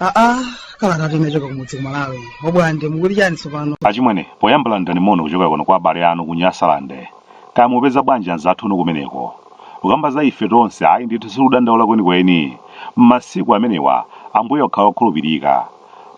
aa kalatatu inachoka kumudzi kumalawi obwande mukuti chani tsopano achimwene poyamba landirani moni kuchokera kuno kwa abale anu ku nyasalande kaya mupeza bwanji anzathu inu kumeneko kukamba za ife tonse ayi ndithu sikudandaula kwenikweni m'masiku amenewa ambuye akukhala okhulupirika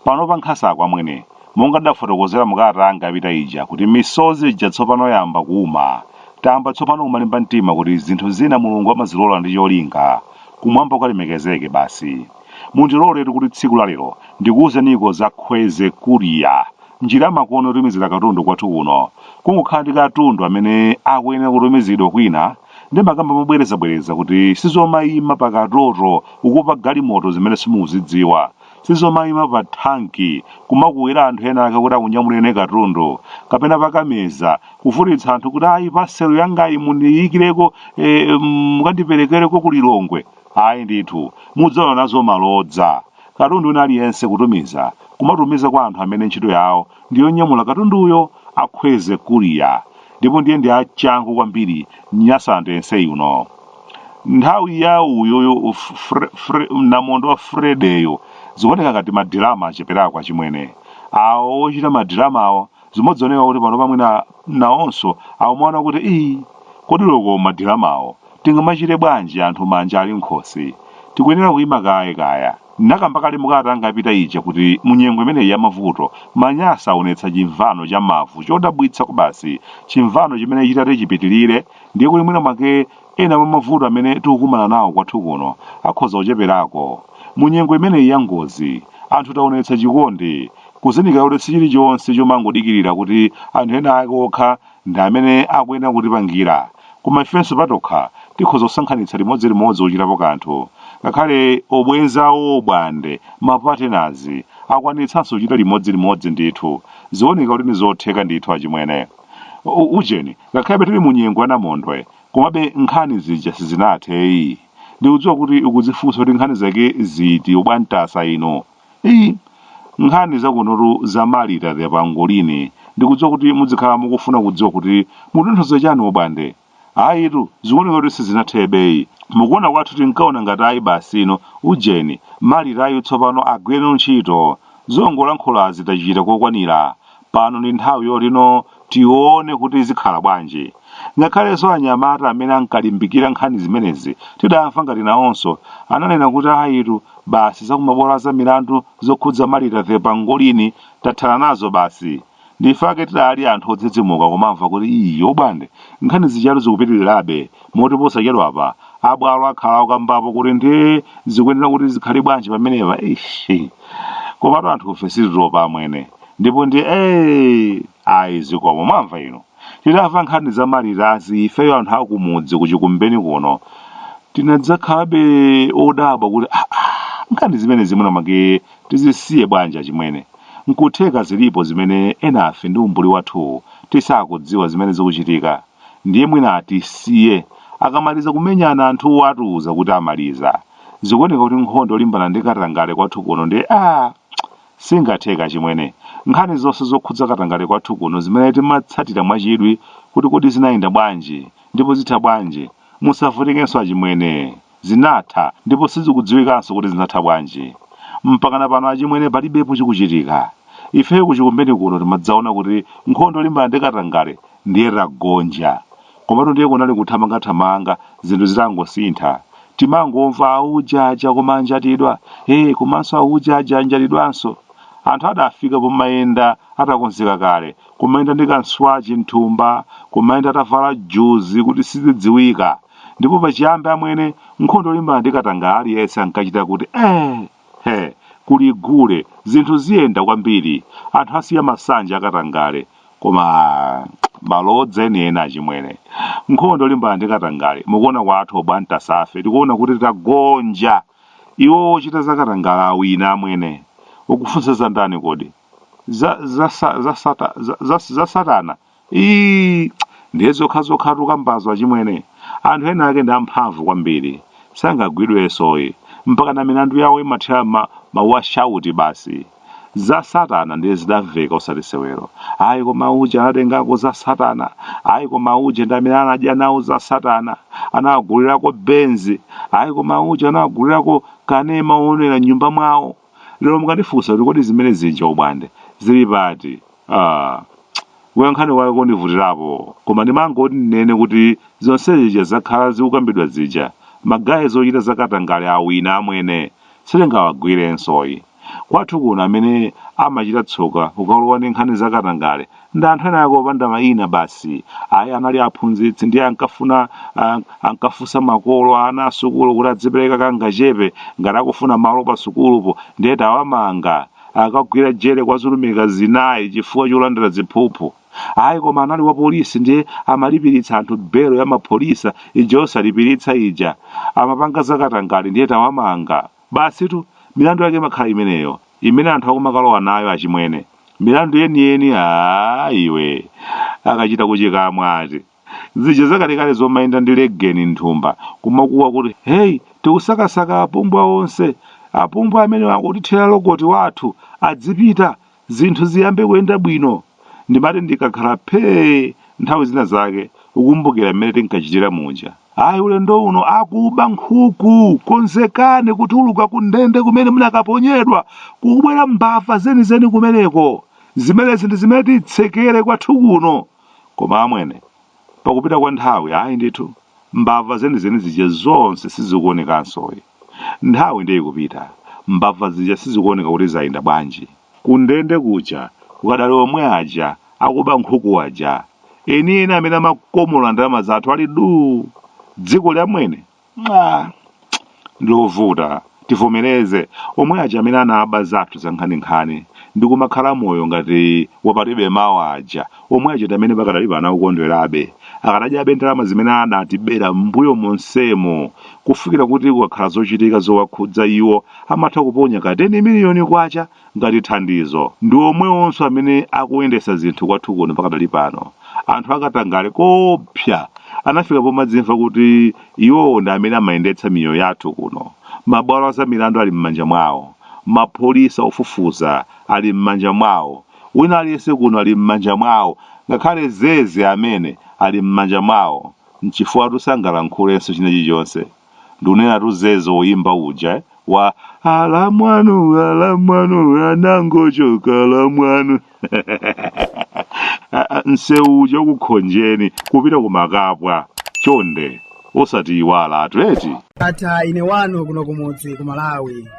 Pano pa Nkhasa kwa Mwene, monga ndidafotokozera mu kalata yanga yapita ija kuti misozi ija tsopano yayamba kuuma, tayamba tsopano kumalimba mtima kuti zinthu zina Mulungu amazilola ndi cholinga, kumwamba kukalemekezeke basi. Mundiloletu kuti tsiku la lero ndikuuzeniko za Khweze Courier, njira yamakono yotumizira katundu kwathu kuno, kungokhala ndi katundu amene akuyenera kutumizidwa kwina, ndimakamba mobwerezabwereza kuti sizomaima pa katoto, kukupa galimoto zimene simukuzidziwa. sizomayima pa thanki kumakuwira anthu ena ake kuti akunyamulireni katundu kapena pakameza kuvutitsa anthu kuti ayi paselo yangayi mundiyikireko eh, mukandiperekereko ku lilongwe ayi ndithu mudzaona nazo malodza katundu wina aliyense kutumiza kumatumiza kwa anthu amene ntchito yawo ndiyonyamula katunduyo a khweze courier ndipo ndiye ndi achangu kwambiri nyasalande yense yuno nthawi ya uyuyu F- Fre- Fre- namondwe wa fredeyo zikuoneka ngati madirama acheperako achimwene awo ochita madiramawo zimodzooneka kuti pano pamwina nawonso akumaona kuti ii kodi loko madiramawo tingamachite bwanji anthu manja ali m'khosi tikuyenera kuyima kaye kaya ndinakamba kale mu kalata yanga yapita ija kuti munyengo imeneyi ya mavuto manyasa aonetsa chimvano cha mavu chodabwitsa kobasi chimvano chimene chitati chipitirire ndiye kuti mwina mwake ena mwa mavuto amene tikukumana nawo kwathu kuno akhoza kucheperako mu nyengo imeneyi ya ngozi anthu taonetsa chikondi kuzindikira kuti si chilichonse chomangodikirira kuti anthu ena ake okha ndi amene akuyenera kutipangira koma ifenso patokha tikhoza kusonkhanitsa limodzilimodzi kuchitapo kanthu ngakhale obwenzi a obwande mapatenazi akwanitsanso kuchita limodzilimodzi ndithu zioneka kuti ndi zotheka ndithu achimwene U- ujeni Ngakhalebe tili mu nyengo ya namondwe, komabe nkhani zija sizinathe ayi. Ndikudziwa kuti ukudzifunsa kuti nkhani zake ziti obwantasa inu. Eyi, nkhani zakunotu za Marita the Pangolini. Ndikudziwa kuti mudzikhala mukufuna kudziwa kuti mukutanthauza chani obwande. Ayitu, zikuoneka kuti sizinathebe ayi. Mukuona kwathu tinkaona ngati ayi basi inu, ujeni, Maritayu tsopano agwireno ntchito. Zongolankhulazi tachita kokwanira. Pano ndi nthawi yotino tione kuti zikhala bwanji. Ngakhalenso anyamata amene ankalimbikira nkhani zimenezi tidamva ngati nawonso ananena kuti ayitu basi za kumabwalo a zamilandu zokhudza Martha the Pangolin tathana nazo basi. Ndiye ife ake tidali anthu odzidzimuka kumamva kuti ii obwande nkhani zijatu zikupitirirabe moti posachedwapa a bwalo akhala akukambapo kuti ndiye zikuyenera kuti zikhale bwanji pamenepa eish. Komatu anthufe sititopa amwene. ndipo ndi ee ayi zikomo mwamva inu titamva nkhani za Malitazi ifeyo anthu akumudzi kuchikumbeni kuno tinadzakhalabe odabwa kuti "Ah, ah, nkhani zimene zimene mwake tizisiye bwanji chimwene nkutheka zilipo zimene enafe ndi umbuli wathu tisakudziwa zimene zikuchitika ndiye mwina atisiye akamaliza kumenyana anthuwo atiuza kuti amaliza zikuoneka kuti nkhondo yolimbana ndi katangale kwathu kuno ndi yo Singatheka achimwene. Nkhani zonse zokhudza katangale kwathu kuno zimene timatsatira mwachidwi kuti kodi zinayenda bwanji ndipo zitha bwanji, musavutikenso achimwene. Zinatha ndipo sizikudziwikanso kuti zinatha bwanji. Mpakana pano achimwene palibepo chikuchitika. Ifeyo kuchikumbeni kuno timadzaona kuti nkhondo yolimbana ndi katangale ndiye tagonja. Komatu ndiye kunali kuthamangathamanga zinthu zitangosintha. Timangomva auja aja koma anjatidwa, ee komanso auja aja anjatidwanso. Anthu adafika pomayenda atakonzeka kale, kumayenda ndi kamswachi m'thumba, kumayenda atavala juzi kuti sizidziwika. Ndipo pachiyambi amwene, nkhondo yolimbana ndi katangale aliyense ankachita kuti ee! he kuli gule zinthu ziyenda kwambiri anthu asiya masanje akatangale koma malodza enieni achimwene nkhondo yolimbana ndi katangale mukuona kwathu obwantasa ife tikuona kuti tagonja iwo ochita za katangale awina amwene ukufunsa za ndani kodi za, za, sa- za, sata, za, za, za satana Iii ndiye zokhazokhatu mukambazo achimwene anthu ena ake ndi amphamvu kwambiri sangagwidwenso ayi mpakana milandu yawo imathera ma, mawashauti basi za satana ndiye zidamveka osati sewero ayi koma uja anatengako za satana ayi koma uje ndi amene anadya nawo za satana anawagulirako benzi ayi koma uje anawagulirako kanema woonera m'nyumba mwawo lero mukandifunsa kuti kodi zimene zija obwande zili pati ah, kuyankha kwake kondivutirapo koma ndimangoti ndinene kuti zonse zija zakhala zikukambidwa zija magaye ochita zakatangale awina amwene sitingawagwirenso ayi kwathu kuno amene amachita tsoka ukalowa ndi nkhani zakatangale ndi anthu ena ake opanda mayina basi ayi anali aphunzitsi ndiye ankafuna ah, ankafunsa makolo a ana asukulu kuti adzipereka kangachepe ngati akufuna malo pa sukulupo ndiye tawamanga akagwira jere kwa zilumika zinayi chifukwa cholandira ziphuphu ayi koma anali wa polisi ndiye amalipiritsa anthu belo ya mapholisa ija osalipiritsa ija amapanga zakatangale ndiye tawamanga basitu milandu yake imakhala imeneyo imene anthu akumakalowa nayo achimwene milandu yeniyeni aa iwe akachita kuchikamwa ngati zija zakalekale zomayenda ndi legeni nthumba kumakuwa kuti heyi tikusakasaka apumbwa onse apumbwa amene akutithera lokoti wathu adzipita zinthu ziyambe kuyenda bwino ndimati ndikakhala phee nthawi zina zake kukumbukira mmene tinkachitira muja ayi ulendo uno akuba nkhuku konzekani kutuluka ku ndende kumene munakaponyedwa kukubwera mbava zenizeni kumeneko zimenezi ndi zimene titsegule kwathu kuno koma amwene pakupita kwa nthawi ayi ndithu mbava zenizeni zija zonse sizikuonekanso ayi nthawi ndiye ikupita mbava zija sizikuoneka kuti zayenda bwanji Kundende kuja kukadali omwe aja akuba nkhuku aja, enieni amene amakomola ndalama zathu ali duu! Dzikoli amwene, ah! Ndilovuta, tivomereze, omwe aja amene anaba zathu zankhaninkhani ndi kumakhala moyo ngati wa palibe mawa aja, omwe aja ndi amene pakadali pano akukondwerabe, akadadyabe ndalama zimene anatibera m'mbuyo monsemo kufikira kuti kukakhala zochitika zowakhudza iwo. amatha kuponya ka 10 miliyoni kwacha ngati thandizo ndi omwewonso amene akuyendetsa zinthu kwathu kuno pakadali pano anthu akatangale koopsa anafika pomadzimva kuti iwowo ndi amene amayendetsa miyoyo yathu kuno mabwalo a za milandu ali m'manja mwawo mapolisa ofufuza ali m'manja mwawo wina aliyense kuno ali m'manja mwawo ngakhale zeze amene ali m'manja mwawo nchifukwa sitingalankhulenso china chilichonse Ndinenatu zeze woyimba uja eh, wa alamwanu alamwanu anangochoka alamwanu Ah, ah, msewu uja ukukhonjeni kupita kumakapwa chonde osatiyiwalatu eti ata ine wanu kuno kumudzi ku malawi